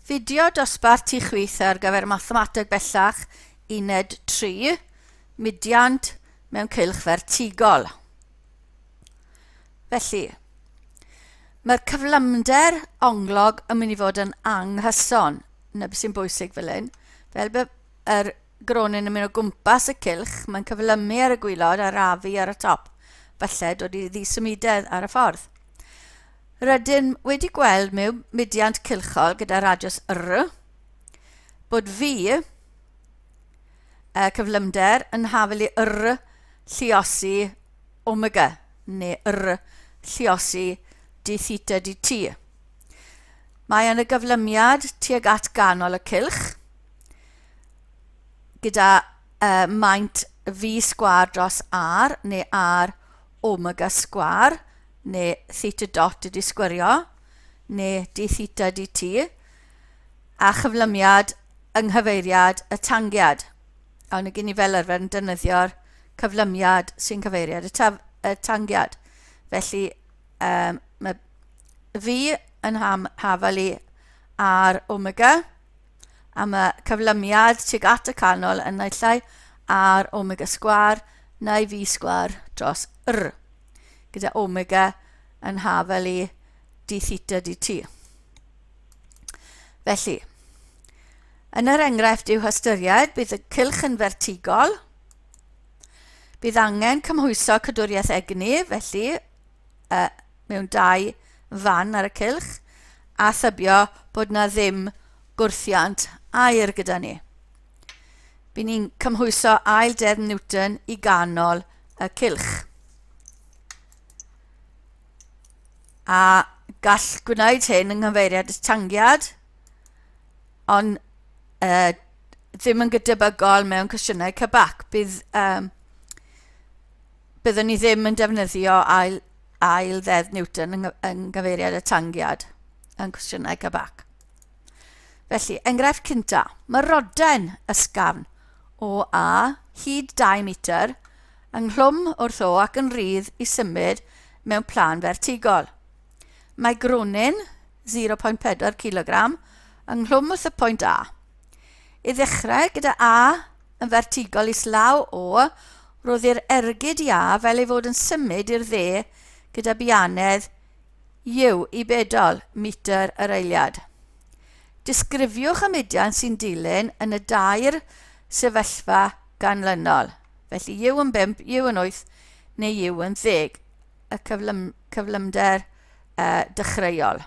Fideo dosbarth ti chwith ar gyfer mathemateg bellach uned 3, mudiant mewn cylch fertigol. Felly, mae'r cyflymder onglog yn mynd i fod yn anghyson, na beth sy'n bwysig fel hyn, fel bod yr gronyn yn mynd o gwmpas y cylch, mae'n cyflymu ar y gwylod a'r afu ar y top, falle dod i ddisymudedd ar y ffordd. Rydym wedi gweld mewn mudiant cylchol gyda radiws R bod fi y cyflymder yn hafel i R lliosi omega neu R lliosi d theta d t. Mae yn y gyflymiad tuag at ganol y cylch gyda uh, maint fi sgwar dros R neu R Omega sgwâr, neu theta dot ydi sgwirio, neu d theta dt, a chyflymiad yng nghyfeiriad y tangiad. Awn ni gyn ni fel arfer yn defnyddio'r cyflymiad sy'n cyfeiriad y, taf, y tangiad. Felly, um, mae fi yn ham, hafal i ar omega, am y cyflymiad tuag at y canol yn naill ai ar omega sgwar neu fi sgwar dros r, gyda omega yn hafel i d theta dt. Felly, yn yr enghraifft i'w hystyried, bydd y cylch yn fertigol, bydd angen cymhwyso cadwriaeth egni, felly y mewn dau fan ar y cylch a thybio bod na ddim gwrthiant aer gyda ni. By ni'n cymhwyso ail deddf Newton i ganol y cylch. A gall gwneud hyn yng nghyfeiriad y tangiad, ond uh, ddim yn gydebygol mewn cwestiynau cybac. Bydd um, byddwn ni ddim yn defnyddio ail, ail ddeddf Newton yn, yng gyfeiriad y tangiad yn cwestiynau cabac. Felly, enghraifft cynta, mae roden ysgafn o A hyd 2 metr ynghlwm wrth o ac yn rhydd i symud mewn plan fertigol. Mae gronyn 0.4 kg ynghlwm wrth y pwynt A. I ddechrau, gyda A yn fertigol islaw O, roedd i'r ergyd i A fel ei fod yn symud i'r dde gyda bianedd Iw i bedol metr yr eiliad. Disgrifiwch y mudiad sy'n dilyn yn y dair sefyllfa ganlynol, felly Iw yn bump, Iw yn wyth neu Iw yn ddeg, y cyflym, cyflymder uh, dechreuol.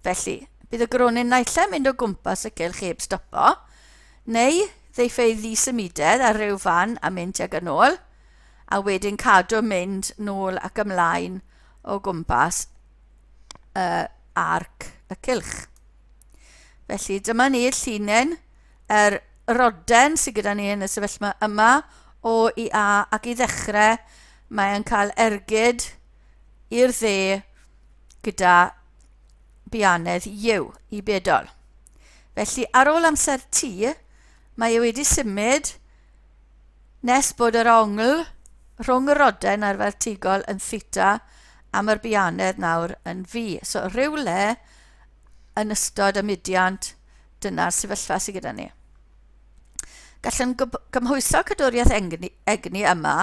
Felly, bydd y gronyn naill ai'n mynd o gwmpas y cylch heb stopo, neu ddeiff ei ddisymudedd ar ryw fan a mynd tuag yn ôl, a wedyn cadw mynd nôl ac ymlaen o gwmpas uh, arc y cylch. Felly dyma ni llunen yr roden sydd gyda ni yn y sefyllfa yma o i A ac i ddechrau mae'n cael ergyd i'r dde gyda bianedd Iw i bedol. Felly, ar ôl amser T, mae e wedi symud nes bod yr ongl rhwng y roden a'r fertigol yn theta a mae'r bianedd nawr yn fi. So, rhywle yn ystod y mudiant, dyna'r sefyllfa sydd gyda ni. Gallwn gymhwyso cadwriaeth egni, egni yma,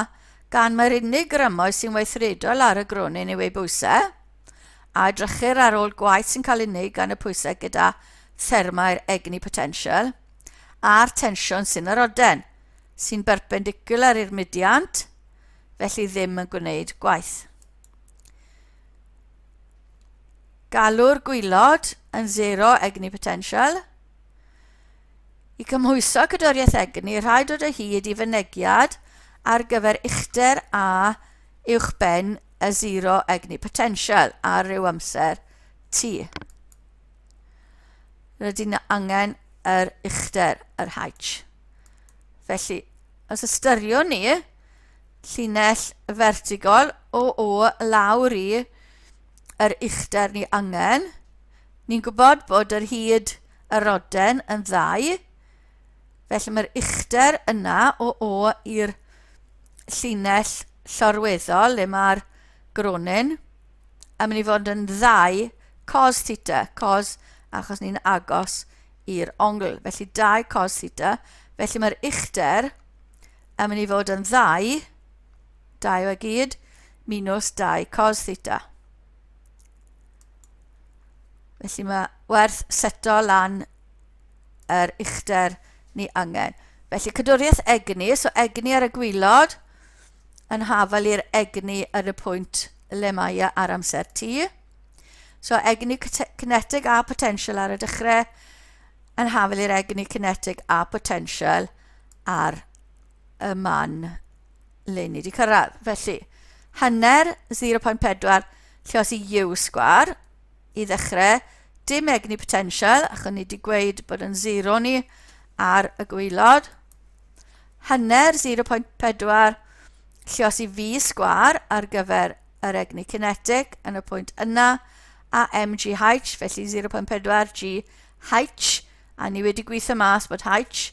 gan mae'r unig grymoedd sy'n weithredol ar y gronyn yw ei bwysau, a edrychir ar ôl gwaith sy'n cael ei wneud gan y pwysau gyda thermau'r egni potensial, a'r tensiwn sy'n yr oden, sy'n berpendicular i'r mudiant, felly ddim yn gwneud gwaith. Galw'r gwylod yn zero egni potensial, I gymhwyso cadwriaeth egni, rhaid dod o hyd i fynegiad ar gyfer uchder a uwchben y sero egni potensial ar ryw amser T. Rydyn ni angen yr uchder, yr H. Felly, os ystyriwn ni llinell fertigol o o lawr i yr uchder ni angen, ni'n gwybod bod yr hyd yr oden yn ddau, felly mae'r uchder yna o o i'r llinell llorweddol le mae'r gronin yn mynd i fod yn ddau cos theta, cos achos ni'n agos i'r ongl, felly dau cos theta, felly mae'r uchder yn mynd i fod yn ddau, dau o gyd, minus dau cos theta. Felly mae werth seto lan yr uchder ni angen. Felly cadwriaeth egni, so egni ar y gwylod yn hafal i'r egni ar y pwynt le mae e ar amser T. So egni kinetic a potential ar y dechrau yn hafal i'r egni kinetic a potential ar y man le ni wedi cyrraedd. Felly, hanner 0.4 lle os i u sgwar i ddechrau, dim egni potential, achos ni wedi gweud bod yn 0 ni ar y gweilod. Hanner 0.4 lle os i fi sgwar ar gyfer yr egni cinetic yn y pwynt yna, a mgh, felly 0.4 gh, a ni wedi gweithio mas bod h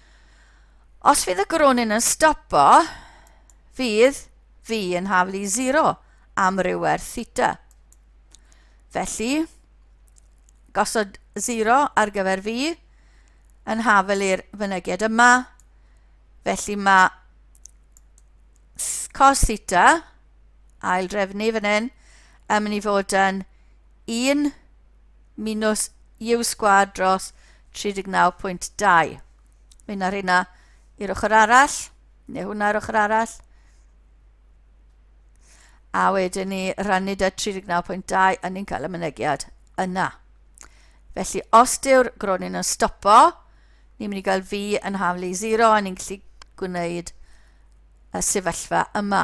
Os fydd y gronyn yn stopo, fydd fi yn haflu 0 am ryw werth theta. Felly, gosod 0 ar gyfer fi yn hafel i'r fynegiad yma. Felly mae cos theta, ail drefnu fan hyn, yn mynd i fod yn 1 minus u sgwad dros 39.2. Mae yna rheina i'r ochr arall, neu hwnna i'r ochr arall. A wedyn ni rannu da 39.2 a ni'n cael y mynegiad yna. Felly, os dyw'r gronyn yn stopo, ni'n mynd i gael fi yn haflu 0 a ni'n gallu gwneud y sefyllfa yma.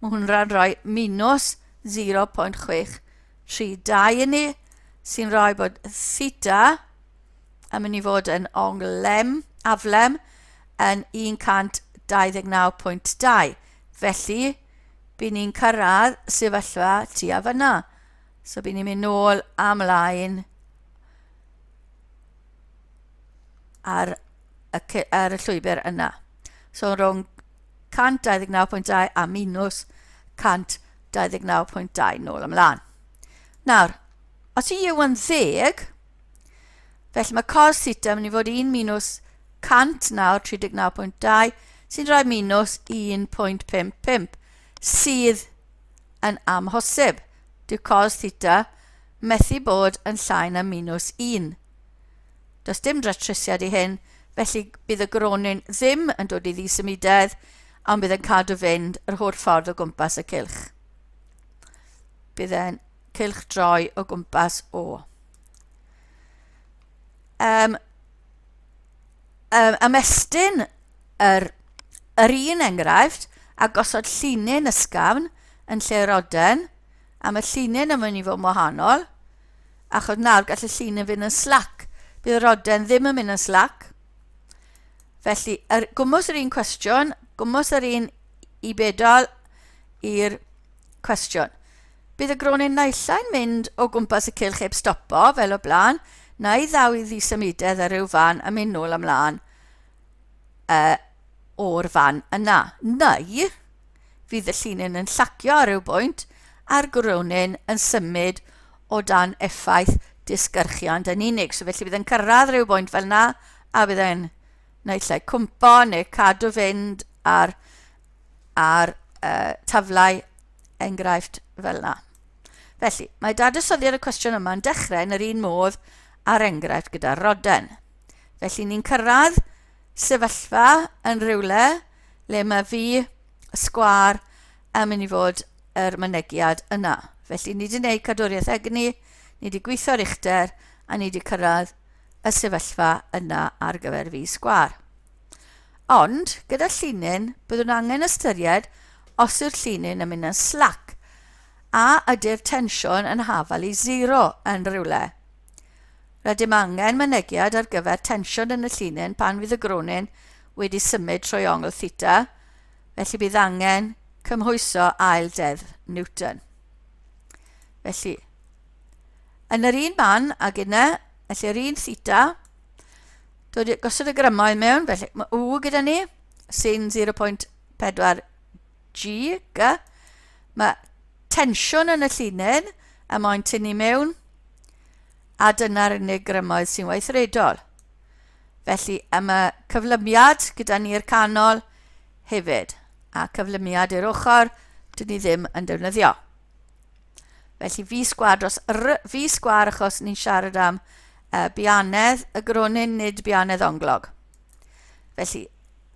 Mae hwnna'n rhoi minws 0.632 i ni, sy'n rhoi bod theta yn mynd i fod yn onglem, aflem, yn 129.2. Felly, byd ni'n cyrraedd sefyllfa tu a fyna. So, byd ni'n mynd nôl amlaen ar y ce- ar y llwybr yna. So rhwng 129.2 a minus 129.2 nôl ymlaen. Nawr, os i yw yn ddeg, felly mae cos theta yn mynd i fod 1 minus 100 nawr 39.2 sy'n rhoi minus 1.55 sydd yn amhosib. Dyw cos theta methu bod yn llai na minus 1. Does dim dratrusiad i hyn, felly bydd y gronyn ddim yn dod i ddisymudedd, ond bydd yn cadw fynd yr holl ffordd o gwmpas y cylch. Bydd e'n cylch droi o gwmpas o. Um, um, ymestyn yr, yr un enghraifft a gosod llinyn ysgafn yn lle roden, a mae llinyn yn mynd i fod yn wahanol, Achos nawr gall y llun yn fynd yn slac. Bydd yr oden ddim yn mynd yn slac. Felly, er, gwmwys yr un cwestiwn, gwmwys yr un i bedol i'r cwestiwn. Bydd y gronyn naillau'n mynd o gwmpas y cylch heb stopo, fel o blaen, na i ddaw i ddisymudedd ar ryw fan a mynd nôl ymlaen uh, o'r fan yna. Neu, Fydd y llinyn yn llacio ar ryw bwynt a'r gwrywnin yn symud o dan effaith disgyrchiant yn unig. So felly bydd yn cyrraedd rhyw bwynt fel yna a bydd e'n naill ai cwmpo neu cadw fynd ar, ar uh, taflau enghraifft fel yna. Felly, mae dadysoddiad y cwestiwn yma yn dechrau yn yr un modd a'r enghraifft gyda'r roden. Felly ni'n cyrraedd sefyllfa yn rhywle le mae fi sgwar yn mynd i fod yr mynegiad yna. Felly ni wedi gwneud cadwriaeth egni, ni wedi gweithio ar uchder a ni wedi cyrraedd y sefyllfa yna ar gyfer fi sgwar. Ond, gyda llinyn, byddwn angen ystyried os yw'r llinyn yn mynd yn slac a ydy'r tensiwn yn hafal i zero yn rhywle. Rydym angen mynegiad ar gyfer tensiwn yn y llinyn pan fydd y gronyn wedi symud trwy ongl theta, felly bydd angen cymhwyso ail deddf Newton. Felly, yn yr un man ag yna, felly yr un theta, dod i gosod y grymoedd mewn, felly mae U gyda ni, sy'n 0.4 GG. Mae tensiwn yn y llinyn a moyn tynnu mewn a dyna'r unig grymoedd sy'n weithredol. Felly am y cyflymiad gyda ni'r canol hefyd a cyflymiad i'r ochr dyn ni ddim yn defnyddio. Felly fi sgwar dros r, fi sgwar achos ni'n siarad am uh, bianedd y gronyn, nid bianedd onglog. Felly,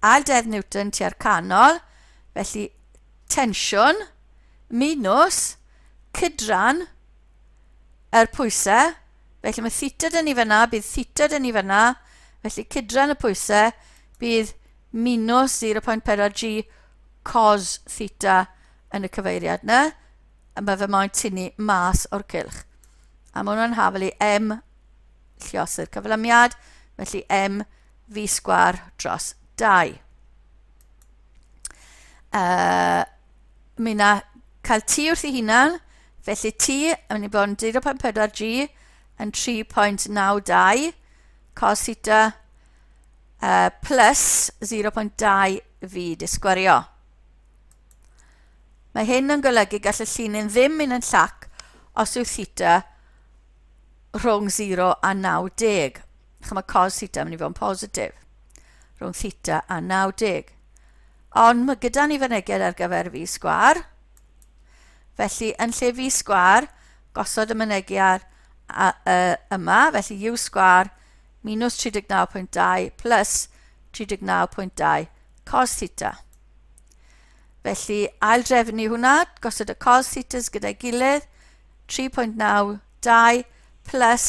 a deddf Newton tua'r canol, felly tensiwn minus cydran yr pwysau, felly mae theta dyn ni fyna, bydd theta dyn ni fyna, felly cydran y pwysau bydd minus 0.4 g cos theta yn y cyfeiriad yna, a mae fy moyn tynnu mas o'r cylch. A mae hwnna'n hafel i m lliosu'r cyflymiad, felly m fi sgwar dros 2. Uh, mi na cael T wrth ei hunan, felly T yn mynd i bod yn 0.4G yn 3.92 cos theta uh, plus 0.2 fi disgwario. Mae hyn yn golygu gall y llinyn ddim mynd yn llac os yw theta rhwng 0 a 90. Chym mae cos theta yn mynd i fod yn positif. Rhwng theta a 90. Ond mae gyda ni fyneged ar gyfer fi sgwar. Felly, yn lle fi sgwar, gosod y mynegiad yma, felly u sgwar minus 39.2 plus 39.2 cos theta. Felly, ail drefnu hwnna, gosod y cos thetas gyda'i gilydd, 3.92 plus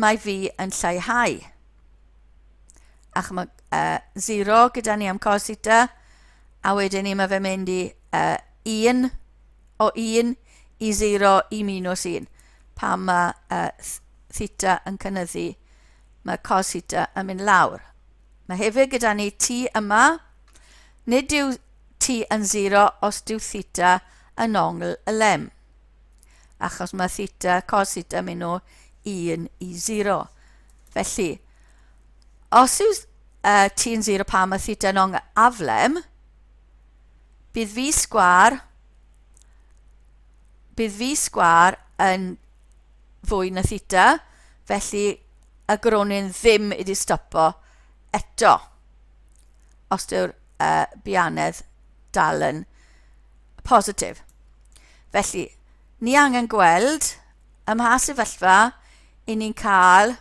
mae fi yn lleihau. A chymod, uh, 0 gyda ni am cos theta, a wedyn ni mae fe mynd i uh, 1 o 1 i 0 i minus 1. Pa mae uh, theta yn cynnyddu, mae cos theta yn mynd lawr. Mae hefyd gyda ni t yma, nid yw t yn 0 os dyw theta yn ongl y lem. achos mae theta, cos theta mynd o 1 i 0. Felly, os yw uh, t yn 0 pan mae theta yn aflem, bydd fi sgwar bydd fi sgwar yn fwy na theta, felly y gronyn ddim wedi stopo eto. Os dyw'r uh, bianedd dal yn positif. Felly, ni angen gweld ym mha sefyllfa i ni'n cael...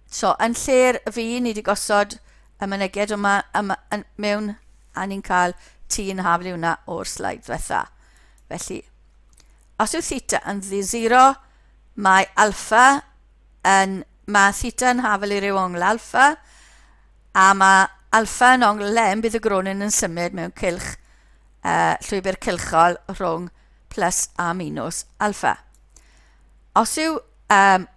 So, yn lle'r fi, ni wedi gosod y mynegiad yma, yma yn, mewn a ni'n cael t yn haflu hwnna o'r slaid diwetha. Felly, os yw theta yn ddi zero, mae alfa yn, mae theta yn haflu i ryw ongl alfa, a mae alfa yn ongl lem, bydd y gronin yn symud mewn cylch uh, llwybr cylchol rhwng plus a minus alfa. Os yw um,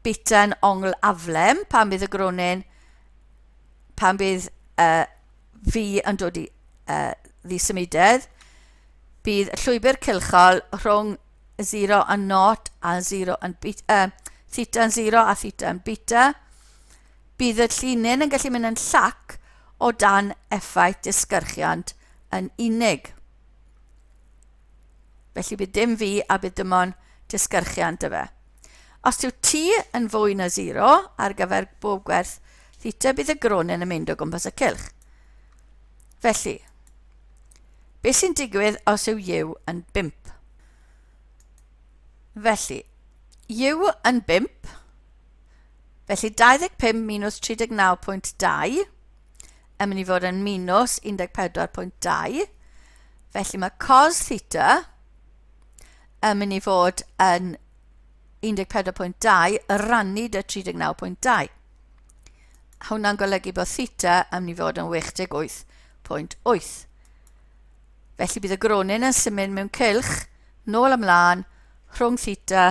beta yn ongl aflem, pan bydd y gronyn, pan bydd uh, fi yn dod i uh, ddisymudedd, bydd y llwybr cylchol rhwng 0 yn not a 0 yn beta, uh, theta yn 0 a theta yn beta, Bydd y llinyn yn gallu mynd yn llac o dan effaith disgyrchiant yn unig. Felly bydd dim fi a bydd dim ond disgyrchiant y fe. Os yw t yn fwy na 0 ar gyfer bob gwerth theta, bydd y gronyn yn mynd o gwmpas y cylch. Felly, beth sy'n digwydd os yw yw yn 5? Felly, yw yn 5, Felly 25 minus 39.2 yn mynd i fod yn minus 14.2. Felly mae cos theta yn mynd i fod yn 14.2 y rannu dy 39.2. Hwna'n golygu bod theta yn mynd i fod yn 68.8. Felly bydd y gronyn yn symud mewn cylch nôl ymlaen rhwng theta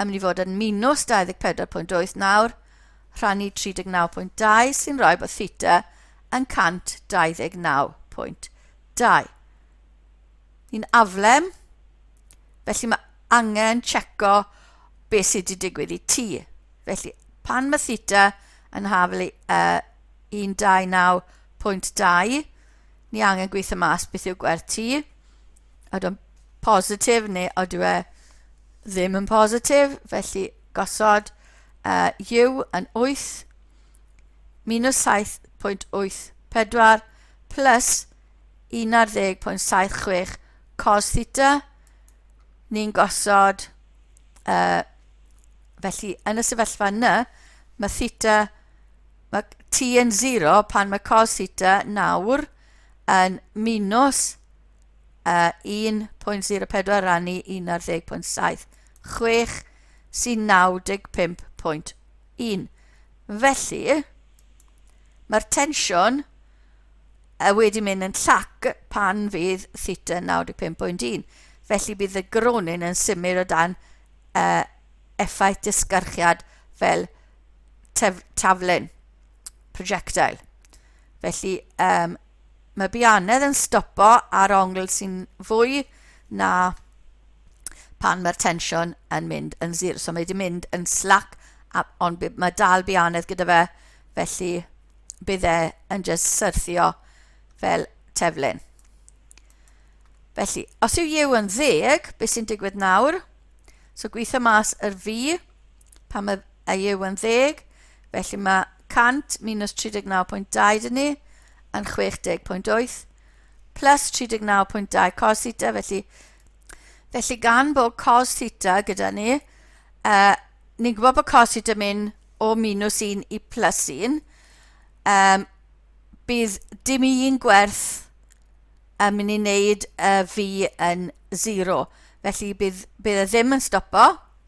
yn mynd i fod yn minws 24.8 nawr, rhannu 39.2 sy'n rhoi bod theta yn 129.2. Ni'n aflem, felly mae angen checo beth sydd wedi digwydd i T. Felly pan mae theta yn haflu uh, 129.2, ni angen gweithio mas beth yw gwerth ti, ydw yn positif neu ydw e ddim yn positif, felly gosod uh, yw yn 8 minus 7.84 plus 11.76 cos theta, ni'n gosod, uh, felly yn y sefyllfa yna, mae theta Mae ti yn zero pan mae cos theta nawr yn minus uh, 1.04 rannu 1 ar 10.7. 6 sy'n 95.1. Felly, mae'r tensiwn uh, wedi mynd yn llac pan fydd theta 95.1. Felly bydd y gronyn yn symud o dan uh, effaith disgarchiad fel tef, taflen, projectile. Felly, um, mae bianedd yn stopo ar ongl sy'n fwy na pan mae'r tensiwn yn mynd yn zir. So mae wedi mynd yn slac, ond mae dal bianedd gyda fe, felly bydd e yn just syrthio fel teflyn. Felly, os yw yw yn ddeg, beth sy'n digwydd nawr? So gweithio mas yr fi, pan mae y yw yn ddeg, felly mae 100 minus 39.2 dyn ni yn 60.8 plus 39.2 cos theta, felly, felly gan bod cos theta gyda ni, uh, ni'n gwybod bod cos theta mynd o minus 1 i plus 1, um, bydd dim un gwerth yn mynd i wneud y fi yn 0. Felly bydd, bydd e ddim yn stopo,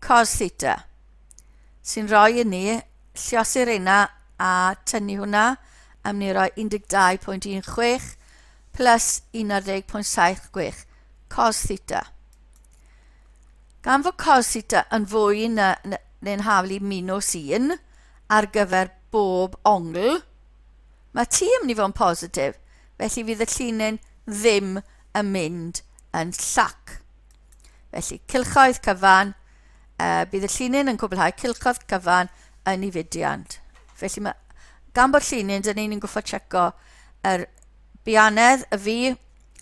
Cos theta. Sy'n rhoi i ni lliosi reina a tynnu hwnna am ni roi 12.16 plus 11.76 cos theta. Gan fod cos theta yn fwy na, neu'n haflu minus 1 ar gyfer bob ongl, mae t yn mynd i fod yn positif, felly fydd y llinyn ddim yn mynd yn llac. Felly, cylchoedd cyfan, uh, bydd y llinyn yn cwblhau cylchoedd cyfan yn ei fudiant. Felly, mae, gan bod llinyn, dyn ni'n gwybod checo yr bianedd y fi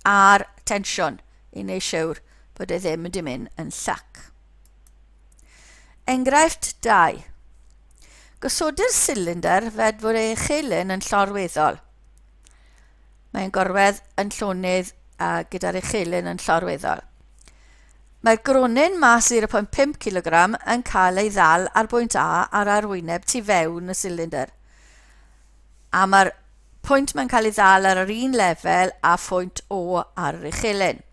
a'r tensiwn i wneud siwr bod e ddim wedi mynd yn llac. Enghraifft 2. Gosodir silynder fedfwr ei chelyn yn llorweddol. Mae'n gorwedd yn llonydd a gyda'r uchelyn yn llorweddol. Mae'r gronyn mas 0.5 kg yn cael ei ddal ar bwynt A ar arwyneb tu fewn y silindr. A mae'r pwynt mae'n cael ei ddal ar yr un lefel a phwynt O ar yr uchelyn.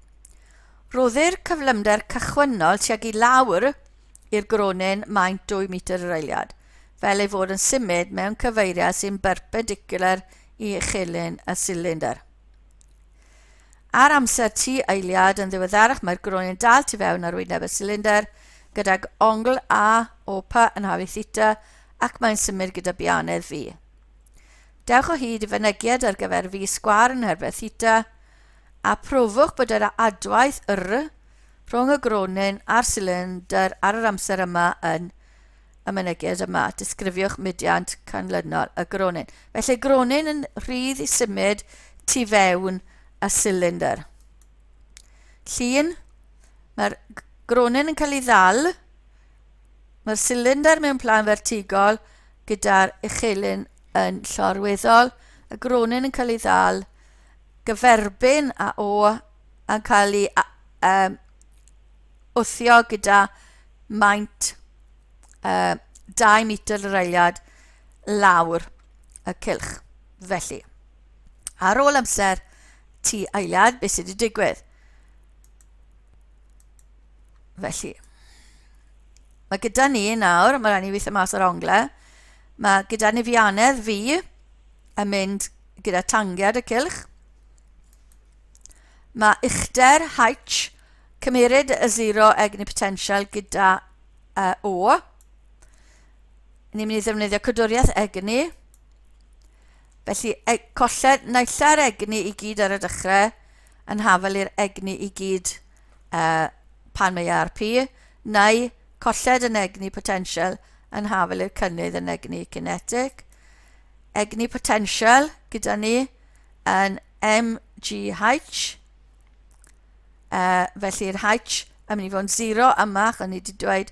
Rhoddir cyflymder cychwynnol tuag i lawr i'r gronyn maint 2 metr yr eiliad. fel ei fod yn symud mewn cyfeiriad sy'n berpendicwlar i uchelyn y silindr. Ar amser tu eiliad yn ddiweddarach mae'r groen yn dal tu fewn ar wyneb y silindr gydag ongl A o P yn hafu theta ac mae'n symud gyda bianedd fi. Dewch o hyd i fynegiad ar gyfer fi sgwar yn herbeth theta a profwch bod yr adwaith R rhwng y gronyn a'r silindr ar yr amser yma yn y mynegiad yma, disgrifiwch mudiant canlynol y gronyn. Felly gronyn yn rhydd i symud tu fewn y cylinder. Llun, mae'r gronyn yn cael ei ddal, mae'r cylinder mewn plan fertigol gyda'r uchelyn yn llorweddol, y gronyn yn cael ei ddal, gyferbyn a o, yn cael ei um, wthio gyda maint uh, 2 metr yr eiliad lawr y cylch. Felly, ar ôl amser ti eiliad, beth sydd wedi digwydd? Felly, mae gyda ni nawr, mae rhaid ni weithio mas o'r ongle, mae gyda ni fianedd fi yn mynd gyda tangiad y cylch, Mae uchder H, cymeryd y zero egni potential gyda uh, O. Ni'n mynd i ddefnyddio cydwriaeth egni. Felly, e colled naillau'r egni i gyd ar y dechrau yn hafel i'r egni i gyd uh, pan mae ar P, neu colled yn egni potential yn hafel i'r cynnydd yn egni kinetic. Egni potential gyda ni yn MGH, uh, felly'r H yn mynd i fod yn 0 yma, ac o'n i wedi dweud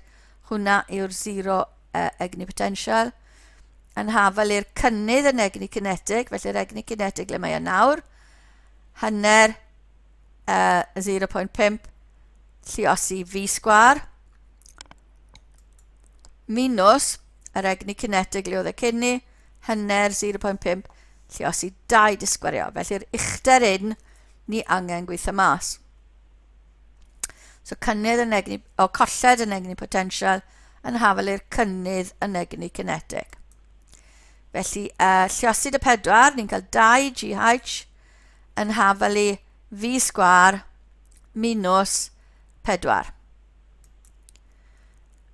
hwnna yw'r 0 uh, egni potential, yn hafel i'r cynnydd yn egni cinetig, felly'r egni cinetig le mae yna nawr, hanner uh, 0.5 lliosi fi sgwar, minus yr egni cinetig le oedd y cynni, Hanner 0.5 lluosi 2 disgwario. Felly'r uchder un ni angen gweithio mas. So cynnydd yn egni, o colled yn egni potensial yn hafel i'r cynnydd yn egni kinetic. Felly, uh, lliosid y pedwar, ni'n cael 2 GH yn hafel i fi sgwar minus 4.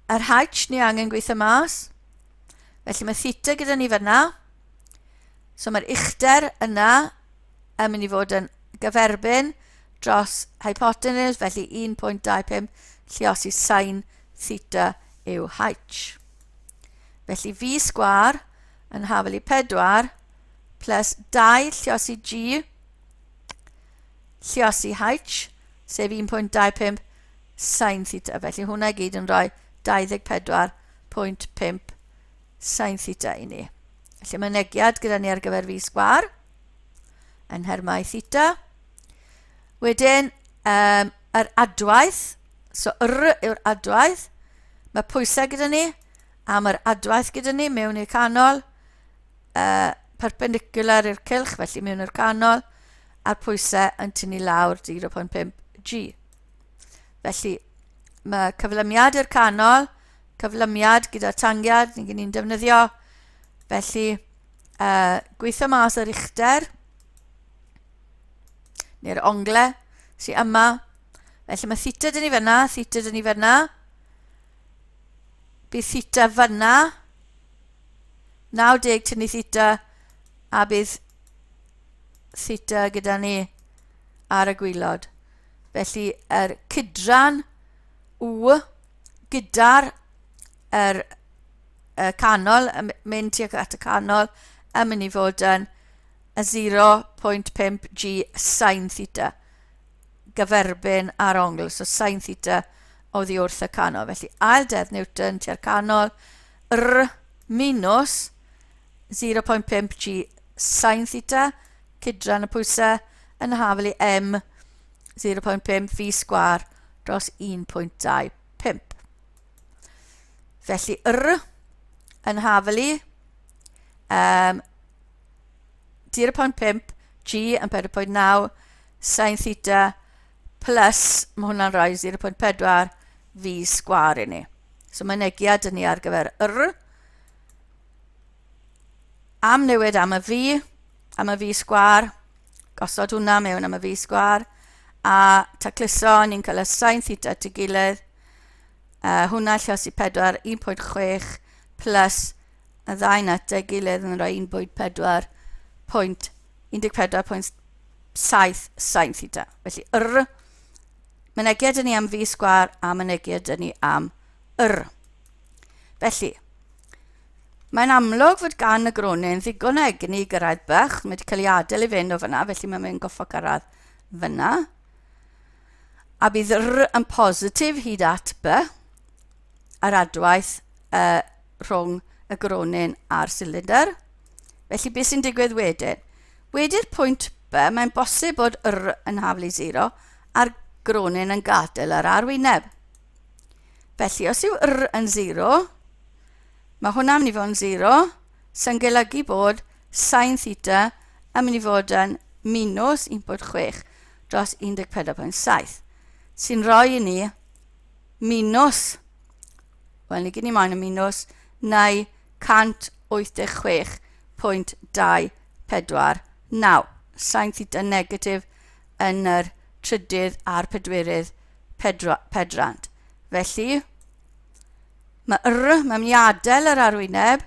Yr H ni angen gweithio mas, Felly mae theta gyda ni fanna. So mae'r uchder yna yn mynd i fod yn gyferbyn dros hypotenuse, felly 1.25 lliosi sain theta yw h. Felly fi sgwar yn hafel i 4 plus 2 lliosi g lliosi h, sef 1.25 sain theta. Felly hwnna i gyd yn rhoi 24 0.5 sin theta i ni. Felly mae negiad gyda ni ar gyfer fi sgwar yn nhermau theta. Wedyn, um, yr adwaith, so yr yw'r adwaith, mae pwysau gyda ni, a mae'r adwaith gyda ni mewn i'r canol, uh, perpendicular i'r cylch, felly mewn i'r canol, a'r pwysau yn tynnu lawr 0.5 G. Felly, mae cyflymiad i'r canol, cyflymiad gyda tangiad, ni gen i'n defnyddio. Felly, uh, gweithio mas yr uchder, neu'r ongle sy'n yma. Felly mae theta dyn ni fyna, theta dyn ni fyna. Bydd theta fyna, 90 tynnu theta, a bydd theta gyda ni ar y gwylod. Felly, yr cydran U gyda'r er, y canol, mynd tuag at y canol, yn mynd i fod yn 0.5 g sain theta gyferbyn ar ongl, so sain theta o ddi wrth y canol. Felly, ail dedd Newton tua'r canol, r minus 0.5 g sin theta, cydran y pwysau, yn y hafel i m 0.5 fi sgwar dros 1.25. Felly r yn hafel i um, 0.5 g yn 4.9 sin theta plus, mae hwnna'n rhoi 0.4 fi sgwar i ni. So mae'n negiad i ni ar gyfer r am newid am y fi, am y fi sgwar, gosod hwnna mewn am y fi sgwar, a tacluso, ni'n cael y sain theta at ei gilydd, uh, hwnna lle os i 4, 1.6, plus y ddau at ei gilydd yn rhoi 1.4, pwynt 14.7 sain theta. Felly, yr, mynegiad yn ni am fi sgwar, a mynegiad yn ni am yr. Felly, mae'n amlwg fod gan y gronyn ddigon o egni i gyrraedd bach. Mae wedi cael ei adael i fynd o fyna, felly mae'n mynd goffa gyrraedd fyna. A bydd r yn positif hyd at b yr adwaith uh, rhwng y gronyn a'r cylinder. Felly beth sy'n digwydd wedyn? Wedi'r pwynt B, mae'n bosib bod R yn haflu 0 a'r gronyn yn gadael yr arwyneb. Felly, os yw r yn 0, mae hwnna'n mynd i fod yn 0, sy'n golygu bod sain theta yn mynd i fod yn minus 1.6 dros 14.7, sy'n rhoi i ni minus, wel, ni gyd ni moyn y minus, neu 186.249, sain theta negatif yn yr trydydd a'r pedwerydd Pedra, pedrant. Felly, mae yr, mae'n mynd i adael yr arwyneb.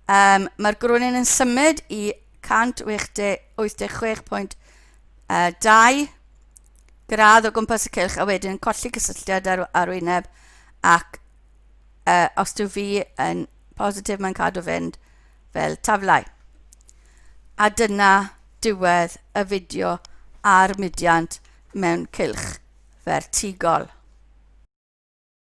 Um, mae'r grwnin yn symud i 186.2 gradd o gwmpas y cylch a wedyn yn colli cysylltiad ar arwyneb ac uh, os dyw fi yn positif mae'n cadw fynd fel taflau. A dyna diwedd y fideo ar mudiant mewn cylch fertigol.